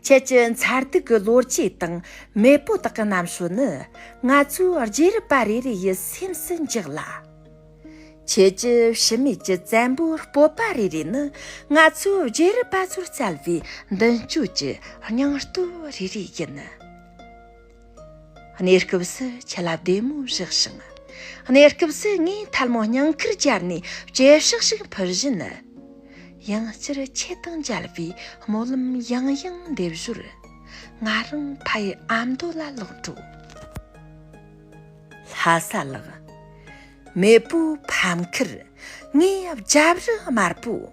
ཁྱེད་ཀྱི་མཚར་སྡུག་གི་ལོ་རྒྱུས་དང་མེས་པོ་དག་གི་རྣམ་ཤོས་ནི་ང་ཚོའི་རྗེས་རབས་པ་རེ་རེ་ཡི་སེམས་སུ་འཇགས་ལ། ཁྱེད་ཀྱི་ཕྱི་མིག་གི་བཙན་པོའི་སྤོབས་པ་རེ་རེ་ནི་ང་ཚོའི་རྗེས་རབས་པ་ཚོར་བསྩལ་བའི་མདུན་སྐྱོད་ཀྱི་སྙིང་སྟོབས་རེ་རེ་ཡིན། གནས་སྐབས་སུ་ཆུ་རླབས་བདེ་མོ་བཞག་ཞིང། གནས་སྐབས་སུ་ངས་ཐལ་མོ་སྙིང་ཁར་བཅར་ནས་བཅད་བཞག་ཞིག་ཕུལ་བཞིན། དབྱིངས་སྤྱིར་ཁྱེད་དང་མཇལ་བའི་སྨོན་ལམ་ཡང་ཡང་འདེབས་ཞོར། ང་རང་ཕ་ཡི་ཨ་མདོ་ལ་ལོག་འགྲོ། ལྷ་ས་ལགས། མེས་པོའི་ཕམ་ཁར་ངའི་རྒྱབ་རི་དམར་པོ།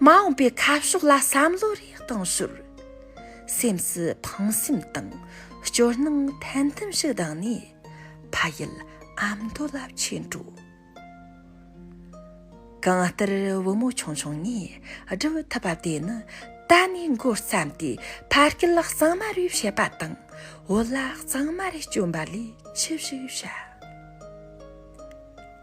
མ་འོངས་པའི་ཁ་ཕྱོགས་ལ་བསམ་བློ་རེ་གཏང་ཞོར། སེམས་སུ་ཕངས་སེམས་དང་སྐྱོ་སྣང་ཐན་ཐུན་ཞིག་ལྡང་ནས་ཕ་ཡུལ་ཨ་མདོ་ལ་ཆས་འགྲོ། གང་ལྟར་བུ་མོ་ཆུང་ཆུང་ངས་བསྒྲུབ་ཐུབ་པ་དེ་ནི་ད་ནས་འགོ་བརྩམས་ཏེ་ཕ་སྐད་གཙང་མ་རེ་བཤད་པ་དང་བོད་ལྭ་གཙང་མ་རེ་སྐྱོན་པ་ལས་ཅི་ཞིག་བྱ།